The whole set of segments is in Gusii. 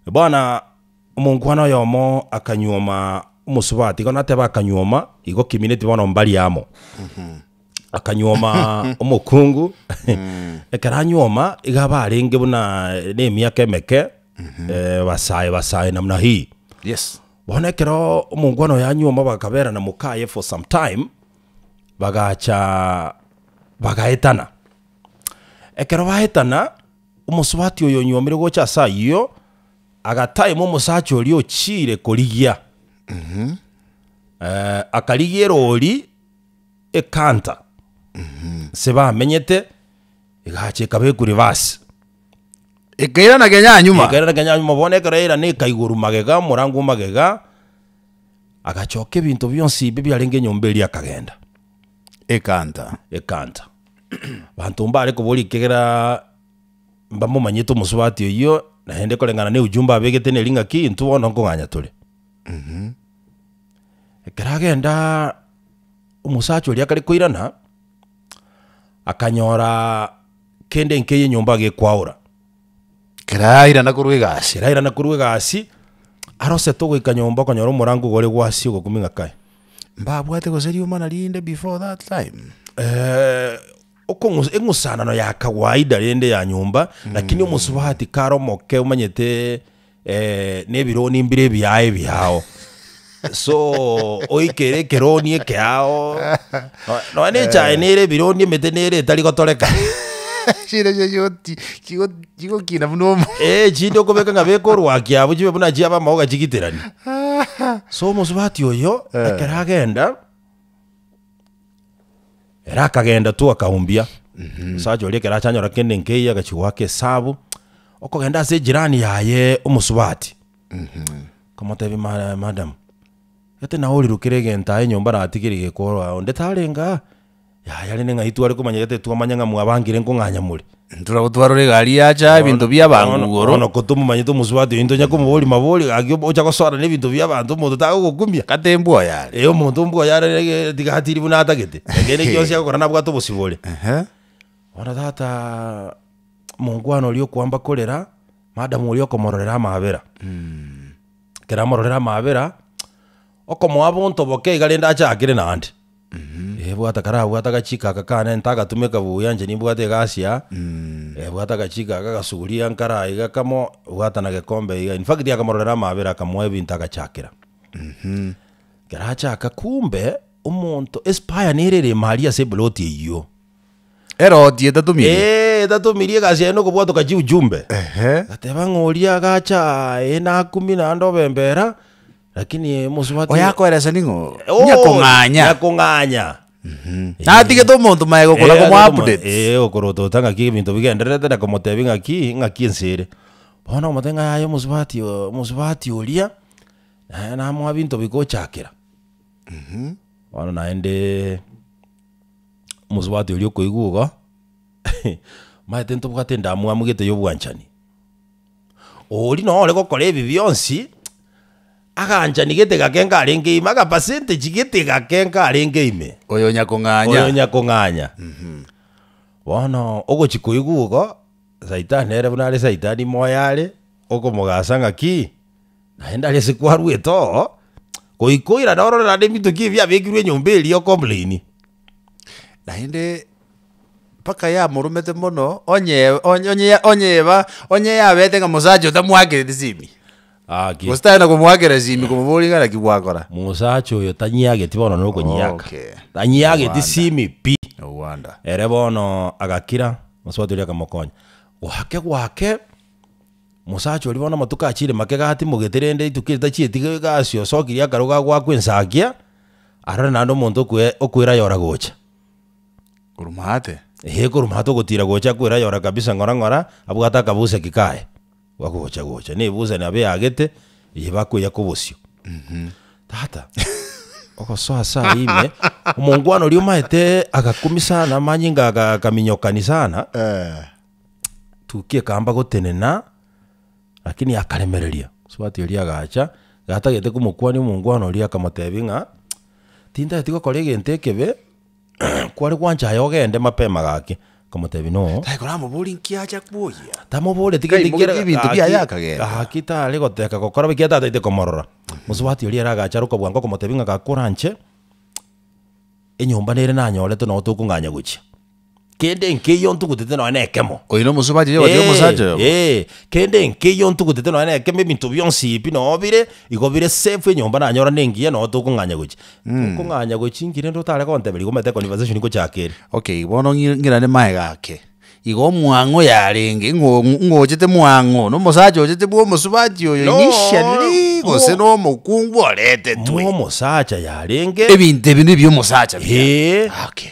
Bono omonkwana oyomo akanyuoma omosubati, igo nateba akanyuoma, igo kimineti bono mbari amo. Akanyuoma omokungu, ekero anyuoma, iga barenge buna nemiaka emeke, eh, basae basae namna hii. Yes. Bono ekero omonkwana oyo anyuoma bakaberana mokaye for some time, bagacha bagaetana. Ekero baetana. Omosubati oyo onyuomire gocha ase ayio agataima omosacha oria ochiire korigia, akarigia eroori ekanta nse bamenyete, egacha ekaba ekuribasi. Ekairana kenya nyuma. Ekairana kenya nyuma bono ekero yairana ekaigoru magega omorango o magega, agachoka ebinto bionsi bi biarenge enyomba eria akagenda. Ekanta. Ekanta. Banto mbare koboria ekiagera mbamomanyete omosubati oyio, naende koreng'ana na eujumbe abegete neri ng'aki intwe bono nkong'anya tore. Ekero agenda omosacha oria akare koirana, akanyora kende nkeiyo enyomba gekwaora. Ekero airana korwa egasi, ekero airana korwa egasi, arosete ogoika nyomba okonyora omorango iga ore gwasi ogokumia ng'a kai, mbabwate gose riomana rinde before that time? okong'u- eng'usanano ya kawaida rende ya nyomba, lakini omosubati kare omoke omanyete. eh, nebironi mbire ebiaye biao so oikere ekeroni ekeao nonya nechae nere ebironi emete nere etari gotoreka chire cheyoti chigokina buna omo ee eh, chinde okobeka ng'a bekorwakia abo chibe buna chiaba amaoga chigitirani so omosubati oyo ekero agenda Ere akagenda tu akaumbia omosacha oria ekero achanyora kende nkeiyo agachia goaka esabu okogenda ase ejirani yaye omosubati akamotebia "Ma- madam gete naye orirukire egento aye nyomba natigeire gekorwa onde tarenge aa yaya rende ng'ai tware komanya gete twamanya ng'a mwabangire nkong'anya more Ntoragotwarora egari yacha ebinto bi'abanto Bono- igoro. bono ko tomomanyete omosubati oyo ntonya komoboria mabori gaki ob- ocha gosoana ebinto bi'abanto omonto tagogokumia Kata embwa oyare. ee omonto mbwa oyare ee, tiga atiri buna atagete ekende gionsi agokora nabwate obosibore Ehe. bono tata monkwana oria okoamba korera madam oria okomororera amabera ekero amororera amabera okomoa bonto boke iga rende ache akere naende Ebwata karabwate agachiko aka kane ntagatumeka buya inche nimbwate egasi aa, ebwate agachiko aka gasuguri ankare aa iga kamo bwata na gekombe iga, in fact akamororera amaabera akamoa ebinto agachakera. Ekero achaka kumbe omonto espire nere ere ime aria ase eploti eyio. Eroti etatomirie? Eeh etatomirie egasi yaye nokobwatoka chiujumbe. Ehe. Gateba ng'a oria agacha aah eeh nakumia naende obembera. Lakini eh, mosubati Oyakoeresa ning'o? Oh, Nyakong'anya. nyakong'anya Natigete omonto maega okona Eh, komo agere komo- updates. eh, okorotota ng'aki ebinto bigendererete na komotebi ng'aki ng'aki ense ere bono omote ng'a yaya omosubati o- omosubati oria naye namoa binto bigochakera bono naende omosubati oria okoigwa igo maete ntobwate endamwamu gete ya obwanchani Oria noo ore gokora ebi bionsi aganchani getega ake nkarenge ime, aga percentage getega ake nkarenge ime, Oyo nyakong'anya. oyo nyakong'anya. Bono ogochi koigwa igo, saitani nere buna are saitani moyo are, okomogasa ng'aki, naende are ase kwarwete oo, goika oirane orore naende ebinto ki ebi biabekirwe enyomba eria o complaini. Naende mpaka yamoromete mono, onye onye onye onye yeba onye yabete ng'a mosacha oyo tamwakereti simi, Gaki. gose tari na komwakera simi komoboria ng'a naki gwakora. Mosacha oyo tanyiageti bono nokonyiaka. Okay. Tanyiageti Ewanda. simi pi. Ewanda. Ere bono agakira, mosubati oria akamokonya. Gwake gwake, mosacha oria bono amatuko achire make iga atimogete rende rituko erio tachieti iga iga asia osokiri akarogo agoakwa ensagia, arore naende omonto okwe okwera yora gocha. Korumate? Ee, korumate ogotiira gocha kwera yora kabisa ng'ora ng'ora, abwate akabuseki kaye, bakogocha gocha, na ebusani abe eagete, eye bakoiya kobosio. Tata, ogosoa ase ayio ime, omongwana oria omaete agakumi sana, amanyinga aga- agakaminyokani sana, Eh. tukia ekamba gotenena, Lakini akaremereria, mosubati oria agacha, gatagete komokuania omongwana oria akamotebia ng'a, tintageti gokora egento ekebe, kware gwancha aye ogende mapema gaki. Akamotebia no. Taikoramobori nki acha kwoyia. Tamoboreti Kai gento mogetie kiera- ebinto biaye gaki- akagenda. gaki tare goteka gokora bo, ekiagera tataete komorora. Mosubati oria ere agacha are okobwango akamotebia ng'a gakoranche, enyomba nere nanyorete noo tokong'anya gochia. kende nkeiyo ntugutete nonya nekemo. Oyo nomosuba bwa Jehova, Jehova omosacha oyomo. Ee, kende nkeiyo ntugutete nonya nekemo, ebinto bionsi pi noo bire igo bire safe, enyomba nanyora nengiya noo tokong'anya gochia. Tokong'anya gochia nki rende otare konteberi igo omanyete econversation ngochaka ere. Okay, bono ng'i- ng'irane maega ake. Igo omwang'o yarenge, ng'o- ng'ochete mwang'o, nomosacha ochete bwa omosubachi oyo Nooo, initially, gose mo- nomokungu oretetwe. Momosacha yarenge. Ebinto ebi nebia omosacha bire. Ee. Okay.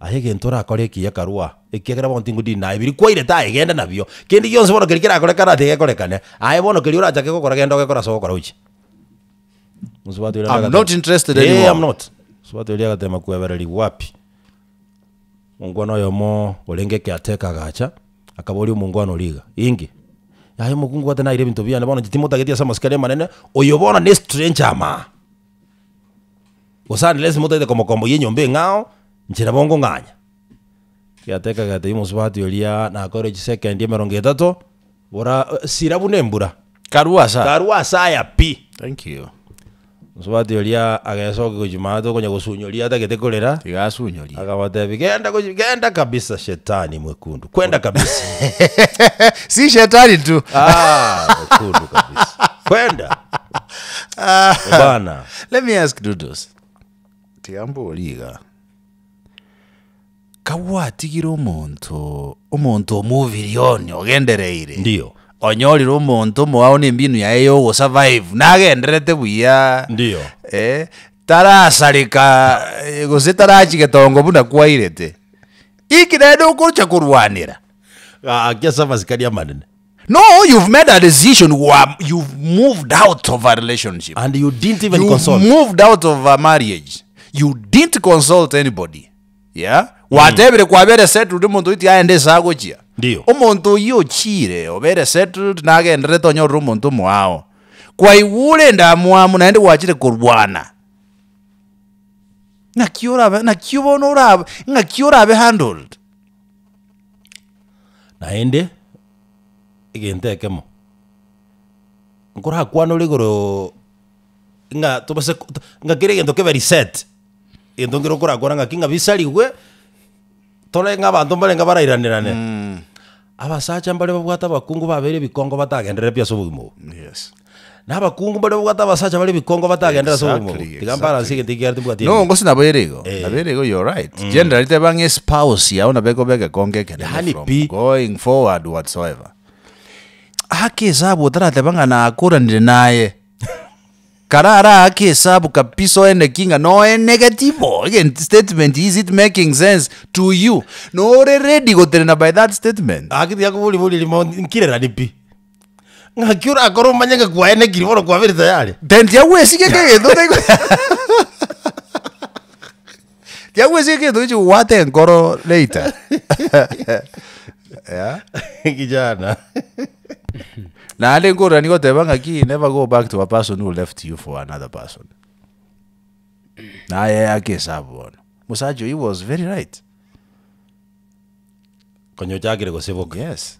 Aye egento orakore eki ekarua, ekiagera bono tingodiiri naye, biria kwairete aye genda nabio, kende gionsi bono keria kerakorekana tigekorekane, aye bono keria orachake gokora genda ogekore ase ogokora oiche. Mosubati oria I'm not interested Ee, anymore. I'm not. Mosubati oria agatema kwebererigwa wapi? Omongwana oyomo orenge ekeateka agacha, akaboria omongwana oria iga, inki? Aye mokungu gwatenaire ebinto biane bono inche timotageti ase amasikani amanene, oyo bono ne stranger amaa. Gose Andresi motaete komokomboyia enyomba eng'ao, inche nabo ngong'anya. Giateka agatebia omosubati oria, Nakoire chisekendi emerongo etato, bora sira buna embura, Karue ase aya. karue ase aya pi. Thank you. Omosubati oria agesokia gochia maate okonya gosunyoria atagete korera, Tiga asunyorie. akabatebia, Genda gochi- genda kabisa shetani mwekundu, kwenda kabisa. Si shetani tu. Ah, mwekundu kabisa. Kwenda. Bana. Let me ask Dudos. Tiga mborie iga. Kagwatigire omonto omonto omobirie one ogendereire. Ndio. Onyorire omonto omoao na embinu yaye ya ogosurvive nagendererete buya. Ndio. Eh, tarasareka eh, gose tarachi getongo buna kwairete. Inki naende okocha korwanera? Gaki ase amasikani amanene. No, you've made a decision, you are, you've moved out of a relationship. And you didn't even You've consult. moved out of a marriage. You didn't consult anybody. Yeah? Gwatebire kwabere settled omonto oiti aende ase agochia. Ndio. Omonto oyio ochiire obere settled nagenderete onyorere omonto omoao. Kwaigwa ore endamwamu naende gwachire korwana. Ng'aki orabe ng'aki bono orabe ng'aki orabe handled. Naende, egento ekemo, nkorakwanore igoro ng'a tobase ko ng'a kera egento kebe reset, egento nkere okorakwana ng'aki ng'a bisarigwe, tore ng'abanto mbarenge abarairane rane. Abasacha mbare babwate abakungu babere ebikongo batagenderere pi ase obogima obo. Yes. Na abakungu mbaria babwate abasacha bare ebikongo batagendera ase obomo. Exactly, Tiga mbaranse exactly. egento ekiareti mbwate No, engiya. ngosi nabo ere igo. Eh. Nabo ere igo, you're right. Generally, tebe bang'e spouse yao nabo ekoba egekongo ekenene Yaani from pi. going forward whatsoever. Aake esabu otarateba ng'a nakoranire naye. Kara araake esabu kabisa oeneki ng'a noenege tibo. Egent- statement is it making sense to you? Nore ready gotenena by that statement. Aki tiga koboria boria rimo nkirerani pi. Ng'aki orakore omanyeke kwaye nekiri bono kwabere tayari? Tari ndiagwesigia egento otari ndiagwesigia egento oiche kobwata enkoro later Yeah. Kijana. Naende nkororania goteba ng'aki never go back to a person who left you for another person. Naye ake esabu bono. Mosacha oyi was very right. Konya ochakire goseboka. Yes.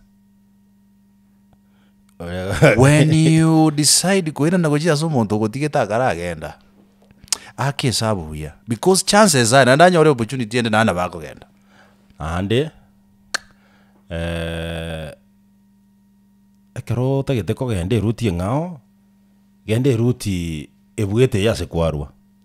When you decide koirana gochia ase omonto ogotigete akaragenda, aka esabu buya because chances are naende anyore opportunity ende naende nabo akogenda. Naende eh, ekero otagete kogenda eruti eng'ao, genda eruti ebuete eye ase kwarwa.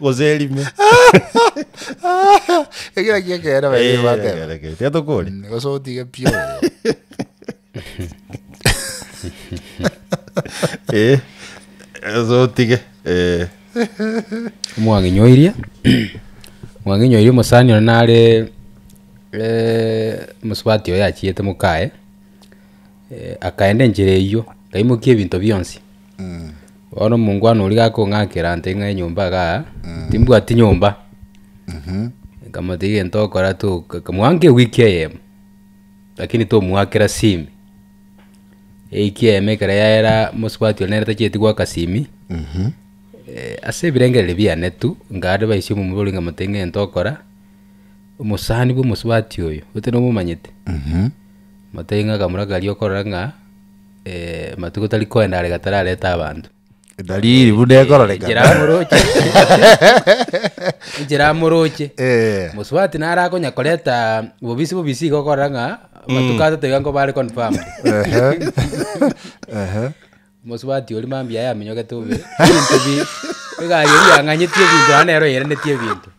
gose erime Ekero kiekere bae Eh, bateba. reke, reke, tiga tokore Mm, Gose otige pio. Eh, gose otige Eh, mwang'inyoirie mwang'inyoirie omosani one nare eh, mosubati oyo yachiete mokaye eh, akaenda enchera eyio akaimokia ebinto bionsi Bono omongwana oria gakong'akera ante ng'a enyomba iga aa, timbwati nyomba. Nkamotebi egento ogokora to mwanka ewiki eyemo, lakini tomwakera simi. Ewiki eyemo ekero yaera mosubati one nere tachieti goaka simi, ase ebirengereri biane tu, nkare baise omomura oria nkamotebia ng'a egento ogokora, omosani bwa omosubati oyo, gose nomomanyete? Motebi ng'a akamura karia okorora ng'a. eh, amatuko tari koenda are gatararete abanto. Edalili buna ekororekana. Chiramoroche. Chiramoroche. Eh. Mosubati nare akonya koreta bobisi bobisi igo okora ng'a amatuko atato iga nko bare confirmed. Ehe. Ehe. Mosubati oria mambia yamenyogete bobe. Ebinto bi- egari eria yang'anyetie ebinto naende nero yairanetie ebinto.